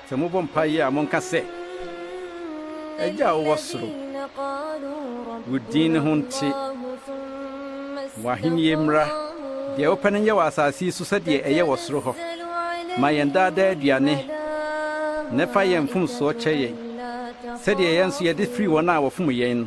Sɛ mobɔ mpaeɛ a, monka sɛ, Agya a wowɔ soro, wo din no ho nte, w'ahennie mmra, deɛ wopɛ no nyɛ wɔ asase yi so sɛdeɛ ɛyɛ wɔ soro hɔ. Ma yɛn daa daa aduane nnɛ. Fa yɛn mfomsoɔ kyɛ yɛn, sɛdeɛ yɛn nso yɛde firi wɔn a wɔfom yɛn no.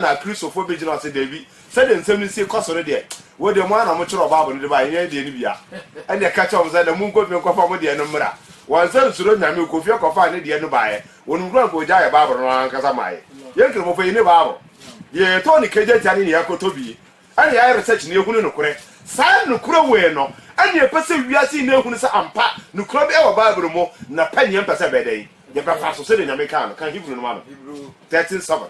Na Kristofo begyina hɔ sɛ, Dabi, sɛnea nsɛm no sie kɔ so no deɛ, wo deɛ, mo ara na mokyerɛw Bible no de bae, ɛnyɛ yɛn deɛ no bi a. Ɛnneɛ ka kyerɛ wɔn sɛ, na munkɔ fie nkɔfa mo deɛ no mmra. Wansan ansuro Nyame, ɔkɔɔ fie kɔfaa ne deɛ no baeɛ. Wɔnom kura anka ɔgyaee Bible no ankasa mae. Yɛn Kramofo, yɛnni Bible. Deɛ yɛtɔn no kagya tia ne nea yɛakɔtɔ bi. Ɛne yɛn ayaresa gyina ehu ne nokorɛ. Saa nokorɛ wei no ɛne yɛpɛ sɛ wiase nyinaa ehunu sɛ ampa nokorɛ bi ɛwɔ Bible mu na pɛ neɛ mpɛ sɛ ɛbɛyɛ dɛn? Yɛbɛfa so sɛdeɛ Nyame kaa no. Kan Hebrew no ma no. Thirteen seven.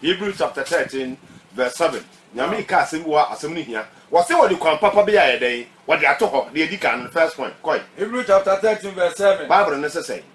Hebrew chapter thirteen verse seven. Nyame kaa asɛm bi wɔ ha, asɛm no hia. Wɔse wɔde kwan papa bi ayɛ dɛn? Wɔde ato hɔ, deɛ ɛdi kan no, the first point. Kɔe. Hebrew chapter thirteen verse seven. Bible no se sɛn?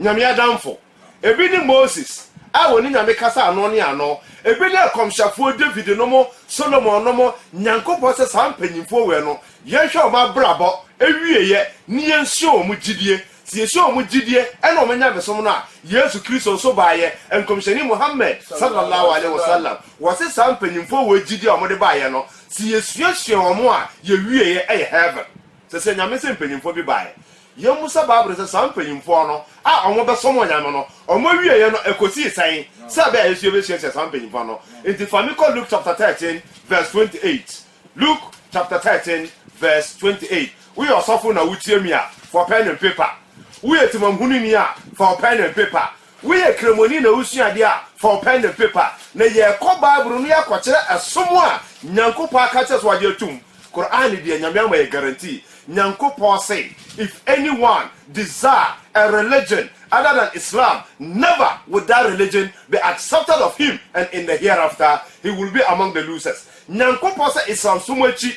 Nyame adamfo. Ebi ne Moses a wɔne Nyame kasa ano ne ano, ebi ne akɔmhyɛfoɔ David nom, Solomon nom, Nyankopɔn sɛ saa mpanyimfoɔ wei no yɛnhwɛ wɔn abrabɔ awieɛ ne yɛnsua wɔn gyidie, sɛ yɛsua wɔn gyidie ɛne wɔn nyamesom no a, Yesu Kristo nso baeɛ, Nkɔmhyɛni Muhammad Sallallahu Alaihi Wasallam, wɔse saa mpanyimfoɔ wei gyidie a wɔde baeɛ no sɛ yɛsuasua wɔn a yɛwieɛ ɛyɛ Heaven. Sɛ sɛ Nyame sɛ mpanyimfoɔ bi baeɛ Yemmu sɛ Bible no sɛ saa mpanyimfoɔ no a wɔbɛsom onyame no wɔwieeɛ no ɛkɔsii sɛn sɛ ɛbɛyɛ a yɛn nso yɛbɛsuasua saa mpanyimfoɔ no. Enti fa me kɔ Luke chapter thirteen verse twenty eight. Luke chapter thirteen verse twenty eight. Woyɛ ɔsɔfo na wotie me a, fa ɔpɛn and paper. Woyɛ temamhunini a, fa ɔpɛn and paper. Woyɛ Kramoni na wosua ade a, fa wo pɛn ne pepa na yɛrekɔ Bible no yɛakɔkyerɛ ɛsom a Nyankopɔn aka akyerɛ sɛ wagye atom. Qur'aan deɛ Nyame ama yɛn guarantee. Nyankopɔn se, If anyone desire a religion other than Islam, never would that religion be accepted of him and in the hereafter he will be among the losers. Nyankopɔn sɛ Islamsom akyi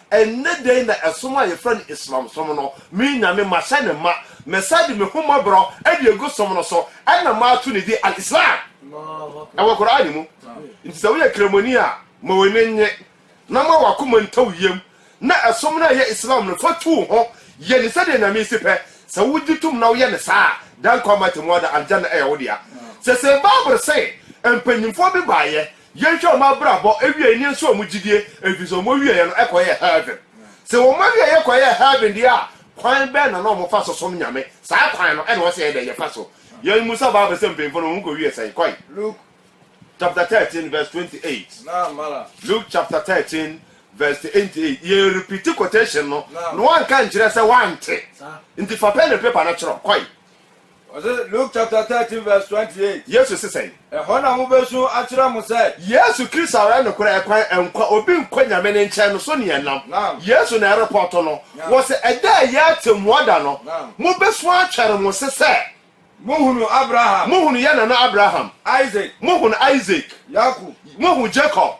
Ɛnnɛ da yi na ɛsom a yɛfrɛ no Islam som no, me Nyame mahyɛ no ma, mɛsan de me hummɔborɔ de agu som no so, ɛna mato ne din Al-Islam ɛwɔ Qur'aan mu. Nti sɛ woyɛ kramoni a, ma w'ani nnye, na ma w'akoma ntɔ wo yam, na ɛsom no a ɛyɛ Islam no fa tu wo ho, yɛ no sɛdeɛ Nyame si pɛ, sɛ wogye tom na woyɛ no saa a, daa nkwa mma atemmu ada, Al-Jannah ɛyɛ wo dea. Sɛ Sayyid Babr se, mpanyimfoɔ bi baeɛ Yɛnhwɛ wɔn abrabɔ awiei ne nso wɔn gyidie ɛfiri sɛ wɔn awieɛ no kɔyɛɛ heaven. Sɛ wɔn awieɛ kɔyɛɛ heaven deɛ a, kwan bɛn na na wɔn fa so som Nyame? Saa kwan no na wɔsɛ yɛn dɛn yɛfa so? Yɛn mu sa bible sɛ mpanyinfoɔ no wɔn kɔ wie sɛn? Kɔe Luke chapter thirteen verse twenty eight Luke chapter thirteen verse twenty eight Yɛ repeat quotation no na wɔanka nkyerɛ sɛ wɔante nti fa pen ne paper no twerɛ Kɔe. Ɔse, Luke chapter thirteen verse twenty eight. Yesu se sɛn? Ɛhɔ na mobesu akyerɛ mo sɛ. Yesu Kristo ara nokorɛ ɛkwan, nkwa, obi nkɔ Nyame ne nkyɛn no so ne ɛnam. Yesu na ɛrepɔto no. Wɔse, Ɛda a ɛyɛ atɛmmuo da no, mobesu atwɛre mo se sɛ. Mohunu Abraham. Mohunu yɛn nana Abraham. Isaac. Mohunu Isaac. Yakub. Mohunu Jacob.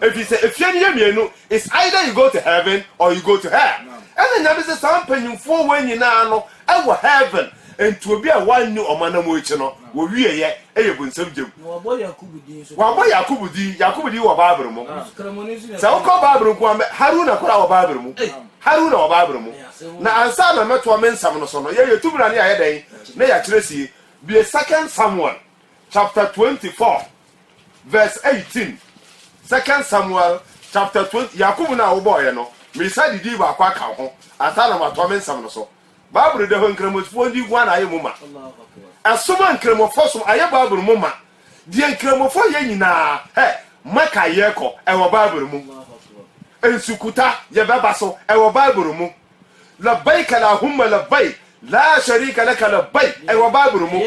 Efisɛ efie no yɛ mmienu, it's either you go to heaven or you go to hell. Ɛna Nyame se saa mpanyimfoɔ wei nyinaa no wɔ heaven, enti obi a wanni wɔn anamɔ akyi no, wɔwieɛ yɛ bunsam gyam. Na wɔabɔ Yakubu din nso. Wɔabɔ Yakubu din, Yakubu din wɔ Bible mu. Nanso Kramoni nso na ɛtɔ. Sɛ wokɔ Bible nko ara mɛ, Haruna koraa wɔ Bible mu. Haruna wɔ Bible mu. Na ansa na mɛtoa me nsɛm no so no, yɛn yɛtu mmara no yɛayɛ dɛn? Na yɛakyerɛ sie. Bue Second Samuel chapter twenty four Verse eighteen, Second Samuel chapter twenty, Yakubu no a wobɔeɛ no, meresa didii baako aka wo ho ansa na matoa me nsɛm no so. Bible da hɔ Nkramofoɔ ndi hua na ayɛ mu ma. Ɛsom a Nkramofoɔ som ayɛ Bible mu ma. Deɛ Nkramofoɔ yɛ nyinaa, hɛ, Maka yɛrekɔ, ɛwɔ Bible mu. Nsukuta, yɛbɛba so, ɛwɔ Bible mu. Labbaik Allahumma Labbaik, Laa Sharika Laka Labbaik, ɛwɔ Bible mu.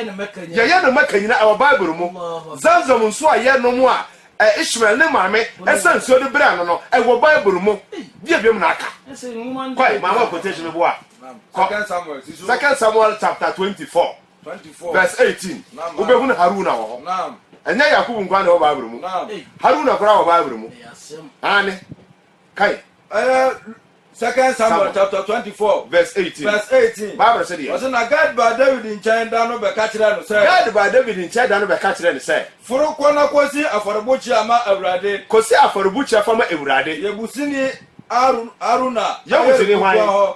Yɛyɛ no Mecca nyinaa, ɛwɔ Bible mu. Zamzam nsuo a yɛnom a Ishmael ne maame sa nsuo de brɛɛ no no, ɛwɔ Bible mu. Deɛ biom na aka? Kɔe, maa wɔn quotation bi a, kɔ Second Samuel chapter 24 verse 18, wobɛhunu Haruna wɔ hɔ. Ɛnyɛ Yakubu nko ara na ɛwɔ Bible mu, Haruna koraa wɔ Bible mu. Aane. Kae. Ɛyɛ Second Samuel chapter twenty four verse eighteen. Verse eighteen. Bible sɛ deɛ. Ɔsɛ na Gad baa David nkyɛn da no bɛka kyerɛ no sɛ. Gad baa David nkyɛn da no bɛka kyerɛ no sɛ. Foro kɔ na kɔsi afɔrebukyia ma Awurade. Kɔsi afɔrebukyia fa ma Awurade. Yebusini Aruna. Yebusini hwan?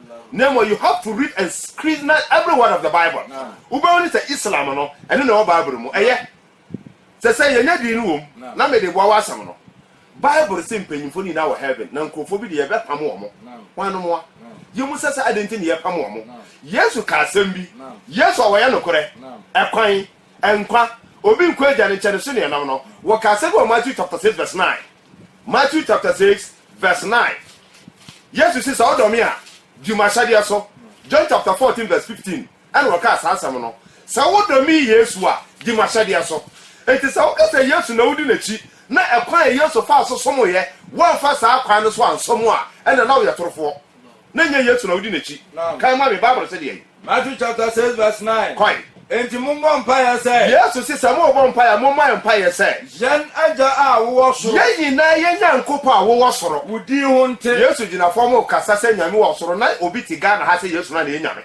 Na mmom you have to read and scrutinize every word of the Bible. Wobɛhu ne sɛ Islam no, ɛno na ɛwɔ Bible no mu. Ɛyɛ. Sɛ sɛ yɛnya din no wom, na mede boa w'asɛm no. Bible se mpanyimfo no nyinaa wɔ heaven, na nkurɔfoɔ bi de yɛbɛpam wɔn. Hwannom a? Yɛmmu sɛ sɛ adɛn nti na yɛpam wɔn? Yesu kaa asɛm bi. Yesu a ɔyɛ nokorɛ, ɛkwan, nkwa, obi nkɔ Agya no nkyɛn no so na ɛnam no, wɔkaa asɛm bi wɔ Matthew chapter six verse nine. Matthew chapter six verse nine, Yesu se, Sɛ wodɔ me a, di m'ahyɛdeɛ so. John chapter fourteen verse fifteen, ɛna wɔkaa saa asɛm no. Sɛ wodɔ me Yesu a, di m'ahyɛdeɛ so. Enti sɛ woka sɛ Yesu na wodi n'akyi, na ɛkwan a Yesu faa so somoeɛ, woamfa saa kwan no so ansom a, ɛnna na woyɛ torofoɔ. Na ɛnyɛ Yesu na wodi n'akyi. Kan ma me, Bible se deɛn? Matthew chapter six verse nine. Kɔe. Enti mommɔ mpaeɛ sɛ. Yesu se, sɛ morebɔ mpaeɛ a, mommɔ mpaeɛ sɛ. Yɛn Agya a wowɔ soro. Yɛn nyinaa yɛn Nyankopɔn a wowɔ soro. Wo din ho nte. Yesu gyina fam rekasa sɛ Nyame wɔ soro. Na obi te Ghana ha sɛ Yesu no ara na ɛyɛ Nyame.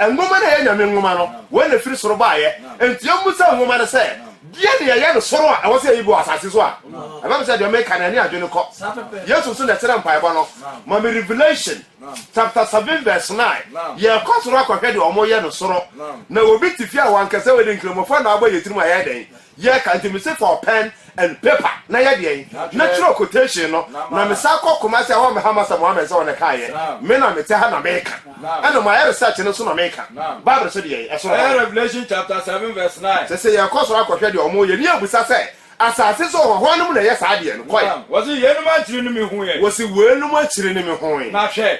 Nwoma no a ɛyɛ Nyame Nwoma no, wei na ɛfiri soro baeɛ. Enti yɛmmisa Nwoma no sɛ, Deɛn na yɛyɛ no soro a ɛwɔ sɛ yɛyi gu wɔ asase so a ɛbɛba sɛ deɛ meka no ɛne adwene kɔ? Yesu nso na ɛkyerɛ mpaebɔ no, Ma me Revelation chapter seven verse nine, Yɛrekɔ soro akɔhwɛ deɛ wɔyɛ no soro. Na obi te fie a wankasa wadi nkramofoɔ na wabɔ yɛn tirim a yɛyɛ dɛn? Yɛ ka nti mese for pen and paper na yɛ deɛn na twerɛ quotation no na me san kɔ Kumasi a wɔammɛha m'asɛm wɔammɛn sɛ wɔn na ɛkaeɛ me na mete ha na meka ɛna mayɛ research no nso na meka Bible so deɛn ɛsoro hɔ. Ɛyɛ Revelation chapter seven verse nine. Sese yɛkɔ soro akɔhwɛ deɛ wɔn yɛ ne yɛ busa sɛ asase so hɔ hwan nom na ɛyɛ saa deɛ no kɔe. Naam, wɔse yeinom ankyiri no me hu yɛ. Wɔse weinom akyiri no me hu yɛ. Na hwɛ.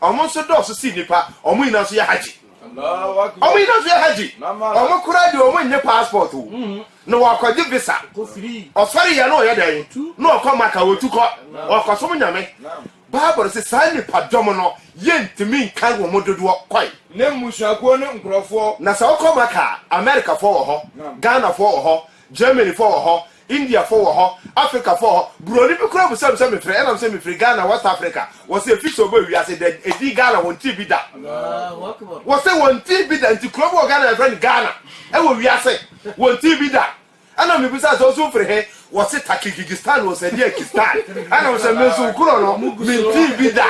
ɔmo nso dɔɔso si nnipa, ɔmo nyinaa nso yɛ hajji. Ɔmo nyinaa nso yɛ hajji. Ɔmo koraa deɛ ɔmo nyɛ passport o. Mm-hmm. Na wɔakɔgye visa. Ɔsɔre yɛ na ɔyɛ dɛn? Na ɔkɔ maka wɔtu kɔ. Ɔkɔsom nyame. Bible sɛ saa nnipa dɔm no yɛntumi nkan wɔn dodoɔ kɔe. Ne mmusuakuo ne nkurɔfoɔ. Na sɛ ɔkɔ maka a, Amerikafoɔ wɔ hɔ, Ghanafoɔ wɔ hɔ, Germanyfoɔ wɔ hɔ, Indiafo wɔ hɔ, Afrikafo wɔ hɔ. Buroni bi koraa bisa me sɛ mefrɛ he? Ɛna me se mefiri Ghana, West Africa. Wɔ se efi sɛ ɔbɔ wiase dɛ, edin Ghana wɔntee bi da. Wɔ se wɔntee bi da. Nti kuro bi wɔ Ghana a yɛfrɛ no Ghana wɔ wiase. Wɔntee bi da. Ɛna me bisae sɛ wo nso wofiri he? Wɔ se Takigigistan wɔ Sadiakistan. Ɛna me se me nso kuro no mentee bi da.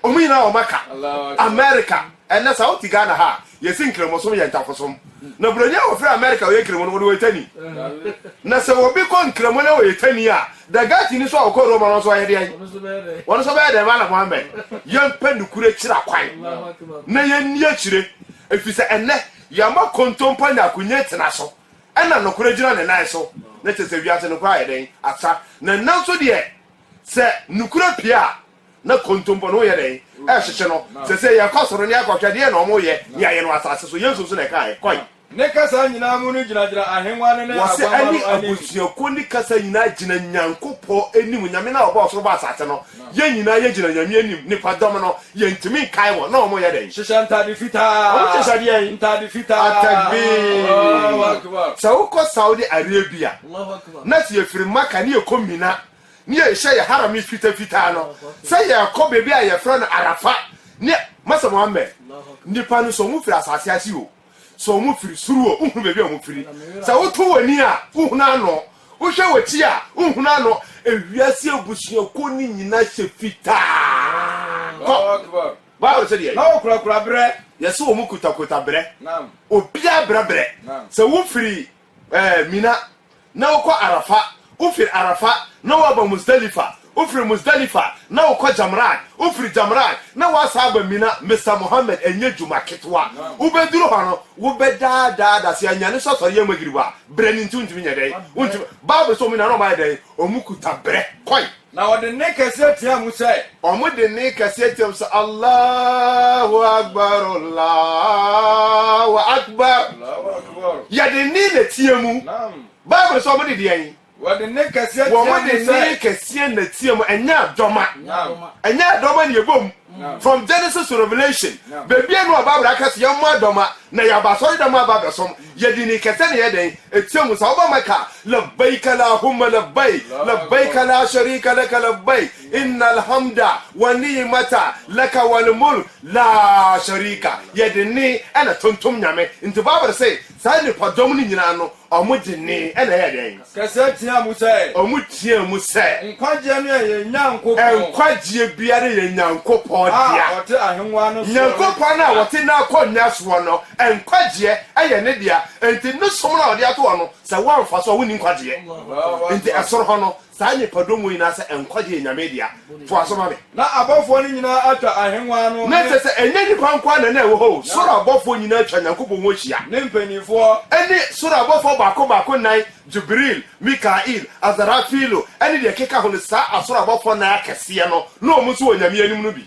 Wɔn nyinaa wɔn aka. America. Ɛnnɛ sɛ wote Ghana ha a, yɛse Nkramosom yɛ ntafosom. Na Buroni a ɔfiri Amerika a ɔyɛ Nkramo no, wɔde wɔyɛ tani. Na sɛ obi kɔ Nkramo na ɔyɛ tani a, the Gatini nso a ɔkɔ Roma no nso ɔyɛ deɛn? Wɔn nso bɛyɛ dɛn? Maala Mohammed, yɛmpɛ nokorɛ akyiri akwan na yɛnni akyire, ɛfiri sɛ ɛnnɛ yɛama kontompo anya akonya tena so ɛna nokorɛ gyina ne nan so. Na kyerɛ sɛ wiase nokorɛ ayɛ dɛn? Asa. Na ɛnnɛ nso deɛ sɛ nokorɛ pue a, na kontompo no yɛ dɛn ɛhyehye no sese yɛkɔ soro ne akɔhwɛ deɛ na ɔmo yɛ ne ayɛ no asase so yesu nso na ɛkaɛ kɔe. Ne kasa nyinaa mu no gyinagyina ahengua no ne aguama no anim. Wɔse ɛne abusuakuo ne kasa nyinaa gyina Nyankopɔ anim, Nyame no a ɔbɔɔ soro bɔɔ asase no, yɛn nyinaa yɛ gyina Nyame anim, nnipa dɔm no yɛntumi nkae wɔn na ɔmo yɛ dɛn? Hyehyɛ ntade fitaa. Ɔmo hyehyɛ deɛn? Ntade fitaa. Atakbiir. Sɛ wokɔ Saudi Arabia na sɛ yɛfiri Makkah ne yɛkɔ Mina. ne yɛrehyɛ yɛn harami fitafitaa no sɛ yɛrekɔ baabi a yɛfrɛ no Arafa ne Masa Muhammad. Nnipa no, sɛ wɔfiri asase ase o, sɛ wɔfiri soro o, wohunu baabi a wɔfiri. Sɛ woto w'ani a, wohunu ano, wohwɛ w'akyi a, wohunu ano. Ewiase abusuakuo no nyinaa hyɛ fitaa. Kɔ. Bible sɛ deɛ. Na wɔkurakura berɛ. Yɛse wɔn kutakota berɛ. Naam. Obiara brɛbrɛ. Naam. Sɛ wofiri Ɛɛ Mina, na wokɔ Arafa, wofiri Arafa, na woaba Musdalifa, wofiri Musdalifa, na wokɔ Jamraat, wofiri Jamraat, na woasan aba Mina, Mister Mohammed, ɛnyɛ dwuma ketewa. Wobɛduru hɔ no, wobɛdaadaa adaseɛ anyane sɛ ɔsɔre yɛ Magrib a, berɛ no nti, wontumi nyɛ dɛn? Wontumi. Bible sɛ wɔn nyinaa na wɔayɛ dɛn? Wɔkuta berɛ kɔe. Na wɔde nne kɛseɛ teaa mu sɛ. Wɔn de nne kɛseɛ teaa mu sɛ, Allahu Akbar, Allahu Akbar. Yɛde nne na teaa mu. Bible sɛ wɔn de deɛn? Wɔde nne kɛseɛ teaa mu sɛ. Wɔn de nne kɛseɛ na teaa mu, ɛnyɛ adɔma. Ɛnyɛ adɔma na yɛbɔ mu. From Genesis to Revelation, beebiara nni hɔ a Bible aka sɛ yɛmmɔ adɔma na yɛaba asɔredɛm aba abɛsom. Yɛde nne kɛse na ɛyɛ dɛn? Ɛteɛ mu. Sɛ woba Mecca a, Labbaik Allahumma Labbaik, Labbaik laa Sharika laka Labbaik, Innal Hamda wa Ni'imata laka wal Mulk laa Sharika. Yɛde nne na tontom Nyame. Nti Bible se Saa nnipadɔm no nyinaa no, wɔgyinee, ɛnna ɛyɛɛ dɛn? Kɛseɛ teaa mu sɛ. Wɔteaa mu sɛ. Nkwagyeɛ no yɛ yɛn Nyankopɔn. Nkwagyeɛ biara yɛ Nyankopɔn dea. A ɔte ahennwa no soɔ no dea. Nyankopɔn no a ɔte n'akonnwa soɔ no, nkwagyeɛ yɛ ne dea. Enti ne som no a ɔde ato hɔ no, sɛ woamfa so a, wonni nkwagyeɛ. Enti ɛsoro hɔ no, Saa nnipadɔm wei na sɛ nkwagye yɛ Nyame dea, foa so ma me. Na abɔfoɔ no nyinaa atwa ahennwa no ne. Na kyerɛ sɛ, ɛnyɛ nnipa nko ara na na ɛwɔ hɔ o, soro abɔfoɔ nyinaa atwa Nyankopɔn ho ahyia. Ne mpanimfoɔ. Ɛne soro abɔfoɔ baako baako nnan, Jibril, Mikail, Asarafilu, ɛne deɛ ɛkeka ho no, saa asoro abɔfoɔ nnan akɛseɛ no, na wɔn nso wɔ Nyame anim no bi.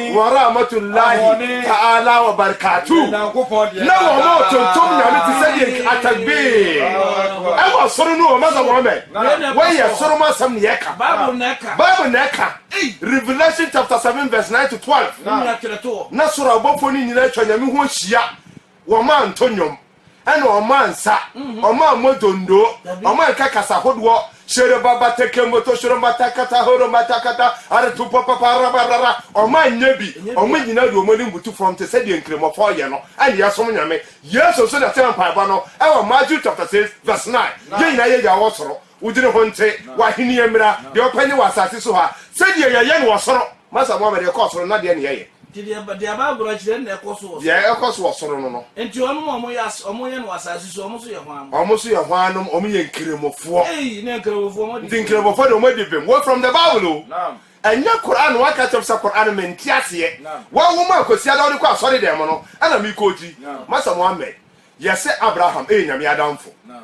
wa rahmatullahi ta'ala wa barakatuh na wɔn tontom nyame te sɛ deɛ atakbir ɛwɔ soro no wɔn sɛ wɔn mɛ wɔyɛ soro mu asɛm ne yɛka bible na ɛka revelation chapter 7 verse 9 to 12 na soro abɔfoɔ no nyinaa atwa nyame ho ahyia wɔn antɔ nnwom ɛna ɔmo ansa, ɔmo ammɔ dondoo, ɔmo anka kasa hodoɔ, hyereba bata kemboto shorombata kata horombata kata areto pɔpapa arabarara, ɔmo anyɛ bi, ɔmo nyinaa de ɔmo anim butu fam te sɛdeɛ Nkramofɔɔ yɛ no, ɛna yɛsom Nyame. Yesu nso na ɛkyerɛ mpaebɔ no ɛwɔ Matthew chapter 6 verse 9, Yɛn nyinaa yɛ Yɛ a ɔwɔ soro. Wo dwene ho nte, w'ahennie mmra, deɛ wopɛ nyɛ wɔ asase so ha sɛdeɛ yɛyɛ no wɔ soro. Masa Mohammed, deɛ ɛkɔ soro no na deɛn na yɛyɛ? Nti deɛ deɛ bible no kyerɛ no na ɛkɔ so wɔ soro. Deɛ ɛkɔ so wɔ soro no no. Nti wɔnom a wɔyɛ as wɔn yɛ no wɔ asase so wɔn nso yɛ hwan? Wɔn nso yɛ hwannom? Wɔn yɛ nkramofoɔ. Eii na nkramofoɔ wɔn adi bem. Nti nkramofoɔ deɛ wɔn adi bem. Wɔ from the bible o. Naam. Ɛnyɛ Quran na waka kyerɛ me sɛ Quran no mente aseɛ. Naam. Wawoma a Kwasiada wode kɔ asɔre dɛm no ɛna mekɔ gyi. Naam. Masa Mohammed, yɛse Abraham ɛyɛ Nyame adamfo. Naam.